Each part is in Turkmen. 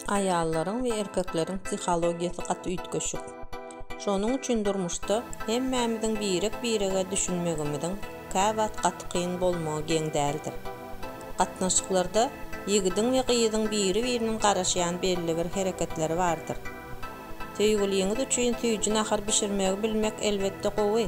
Aýallaryň we erkekleriň psihologiýasy gaty üýtgeşik. Şonuň üçin durmuşda hemmämiziň birek-birege düşünmegimiziň käwagt gaty kyn bolmagy geň däldir. Gatnaşyklarda ýigidiň we gyzyň biri-biriniň garaşýan belli bir hereketleri bardyr. Söýgüliňiz üçin süýji nahar bişirmegi bilmek elbetde gowy.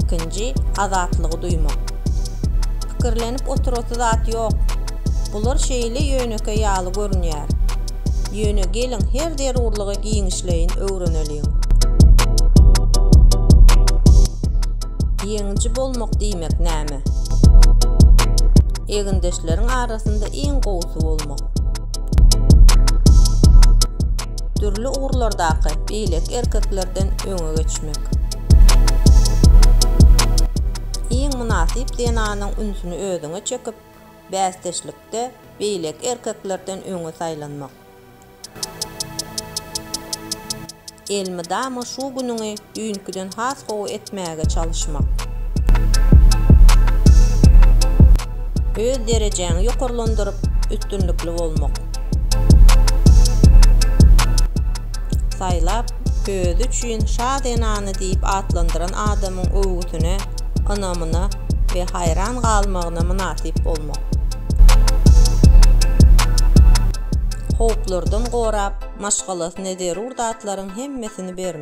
Ikinji, azatlygy duýmak. Pikirlenip oturasy zat ýok. Bular şeýle ýönekeý ýaly görünýär. Ýöne geliň her zerurlygy giňişleýin öwreneliň. Ýeňiji bolmak diýmek näme? Egindeşleriň arasynda iň gowusy bolmak. Dürli ugurlardaky beýleki erkeklerden öňe geçmek. Iň mynasyp zenanyň ünsüni özüňe çekip, bäsdeşlikde beýleki erkeklerden öňe saýlanmak. Elmydama şu günüňi düýnküden has gowy etmäge çalyşmak. Öz derejäňi ýokarlandyryp, üstünlikli bolmak. Saýlap, özi üçin Şa zenany diýip atlandyran adamyň öwgüsine, ynamyna we haýran galmagyna mynasyp bolmak. Howplardan gorap, maşgalasyna zerur zatlaryň hemmesini bermek.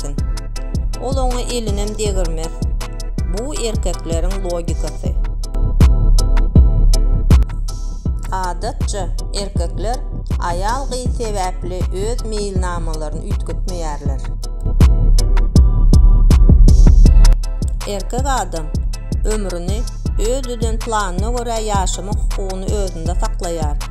çykýarkyn. Ol oňa elinem degirmez. Bu erkekleriň logikasy. Adatça, erkekler aýal gyz sebäpli öz meýilnamalaryny üýtgetmeýärler. Erkek adam ömrüni öz düzen planyna görä ýaşamak hukugyny özünde saklaýar.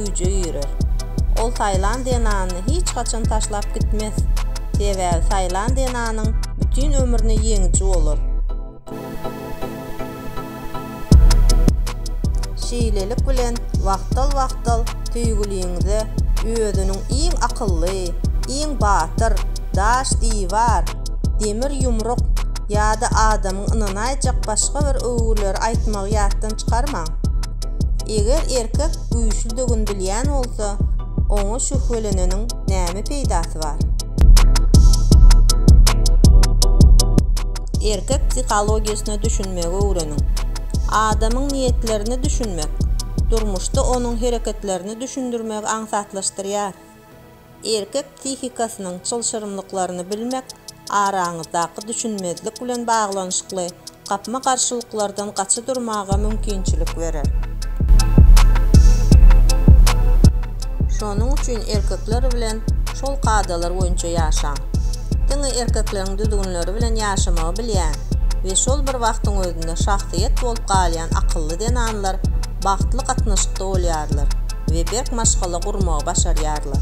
güýje girer. Ol Taýlandiýa nanyny hiç haçan taşlap gitmez, sebäbi Taýlandiýa nanyň bütin ömrüne ýeňiji bolar. Şeýlelik bilen wagtal-wagtal söýgüliňize özüniň iň akylly, iň batyr, daş diwar, demir ýumruk ýa-da adamyň ynanaýjak başga bir öwgüleri aýtmagy ýatdan çykarmaň. Eger erkek güýçlüdigini bilýän bolsa, oňa şübheleneniň näme peýdasy bar? Erkek psihologiýasyna düşünmegi öwreniň. Adamyň niýetlerini düşünmek, durmuşda onuň hereketlerini düşündirmegi aňsatlaşdyrýar. Erkek psihikasynyň çylşyrymlyklaryny bilmek araňyzdaky düşünmezlik bilen baglanyşykly gapma-garşylyklardan gaça durmaga mümkinçilik berer. Şonuň üçin erkekler bilen şol kadalar boýunça ýaşaň. Diňe erkekleriň düzgünleri bilen ýaşamagy bilýän we şol bir wagtyň özünde şahsyýet bolup galýan akylly zenanlar bagtly gatnaşykda bolýarlar. we berk maşgala gurmagy başarýarlar.